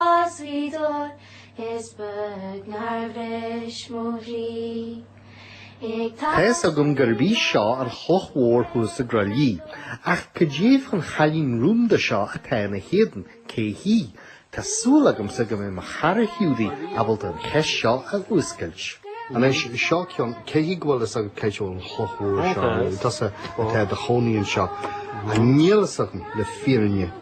As Ghaoth Dobhair is beag nár bhris mo chroí ag tarlú. Tá a fhios agam gurb í seo an chloch mhór thuas i gCroithlí, ach cad é fán chailín rúnda seo atá ina héadan, cé hí? Tá súil agamsa go mbeidh mo chara Hiúdaí ábalta an cheist seo a fhuascailt. Anois, seo ceann, cé hí go bhfuil fhios agat cad é an chloch mhór seo, nó tusa atá i do chónaí anseo? Á, níl a fhios agam le fírinne?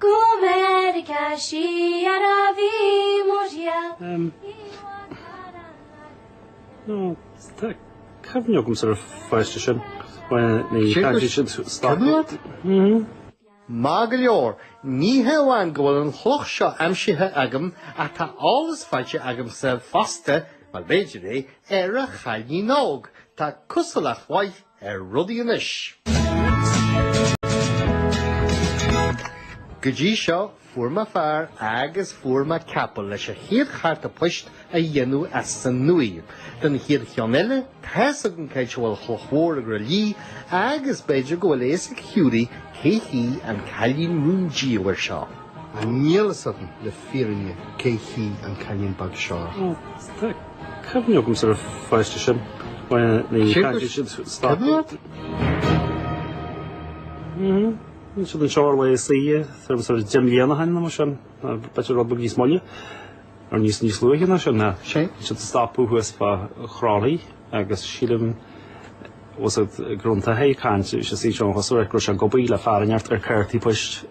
Go Meiriceá siar a bhí mo thriall, i bhfad thar an fharraige mhór. Tá cuimhne agamsa ar an pháiste sin. Maith go leor. Ní hamháin go bhfuil an chloch seo aimsithe agam ach tá eolas faighte agamsa fosta, mar b'fhéidir é, ar an chailín óg. Tá cosúlacht mhaith. ar rudaí anois. Go dtí seo, fuair mé fear agus fuair mé capall leis an chéad charta poist a dhéanamh as an nua. Don chéad cheann eile, tá's agam c'áit a bhfuil an Chloch Mhór i gCroithlí agus b'fhéidir go bhfuil a fhios ag Hiúdaí cé hí an cailín rúndiamhair seo. á, níl a fhios agam le fírinne cé hí an Cailín Beag seo. Tá cuimhne agamsa ar an pháiste sin. Bhí siad anseo ar laethe saoire, tá sé deich mbliana ó shin, nó b'fhéidir rud beag níos moille, nó níos luaithe ná sin. Bhí siad ag stopadh thuas fá Chroithlí agus sílim gur fhan tae ag caint, bhí sé suite ann chuile uair, ag cur sé gobaí le fear a neart ar cártaí poist.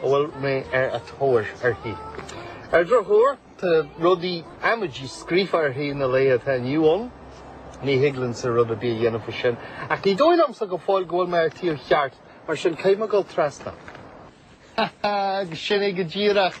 a bhfuil mé ar an tóir uirthi. Ar an drochuair, tá rudaí amaidí scríofa uirthi sna laethe atá inniu ann. Ní thig liomsa rud ar bith a dhéanamh faoi sin, ach ní dóigh liomsa go fóill go bhfuil mé ar an taobh cheart, mar sin caithfidh mé dul trasna. Ha ha, agus sin é go díreach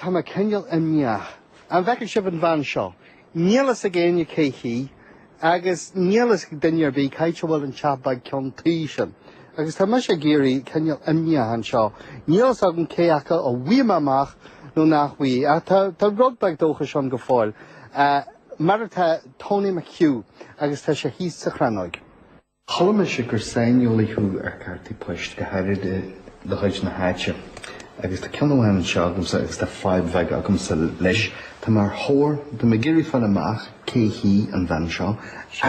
Tá mé cineál imníoch. An bhfeiceann sibh an bhean seo? Níl a fhios ag éinne cé hí, agus níl a fhios ag duine ar bith c'áit a bhfuil an teach beag ceann tuí sin. Agus tá mise ag éirí cineál imníoch anseo. Níl a fhios agam cé acu a bhfaighidh mé amach nó nach bhfaighidh, ach tá rud beag dóchais ann go fóill, mar atá Tony McHugh, agus tá sé thíos sa Chrannóig. Chuala mise gur saineolaí thú ar chártaí poist, go háirid de chuid na háite, agus tá ceann amháin anseo agamsa agus tá fadhb bheag agamsa leis. Tá mé ar thóir, tá mé ag iarraidh fáil amach cé hí an bhean seo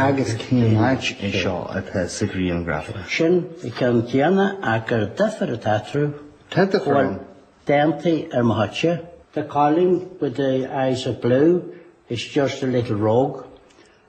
agus cén áit é seo atá sa ghrianghraf. Sin an ceann céanna ach gur duifear atá eatarthu. Tá duifear ann. Bhuel, d'aontaigh ar mo thoice. The Colleen with the eyes of blue, is just a little rogue.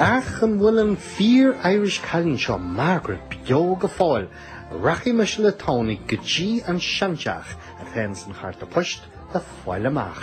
Ach an bhfuil an fíor-Irish cailín seo Margaret beo go fóill? Rachaidh mise le Tony go dtí an seanteach atá in san chárta poist le fáil amach.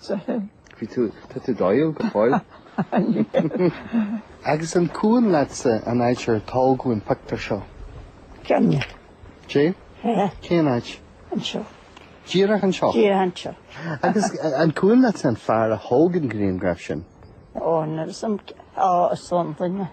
Soithigh. Bhí tú, tá tú dóighiúil go fóill. Agus an cuimhin leatsa an áit ar tógadh an pictiúr seo? Cuimhin. J? Hé. Cén áit? Anseo. Díreach anseo? Díreach anseo. Agus an cuimhin leatsa an fear a thóg an grianghraf sin? Ó, ná san, á, is ann duine.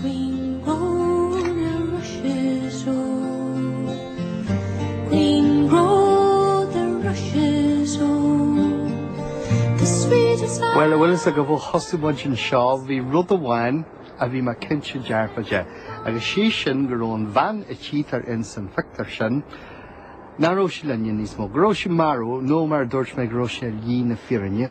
Green grow the rushes, oh, green grow the rushes, oh, the sweetest Bhuel, a bhfuil fhios agaibh, ó thosaigh muid anseo, bhí rud amháin a bhí mé cinnte dearfa de, agus sé sin go raibh an bhean a tchítear in san phictiúr sin, nach raibh sí linn níos mó, go raibh sí marbh, nó mar a dúirt mé, go raibh sí ar shlí na fírinne.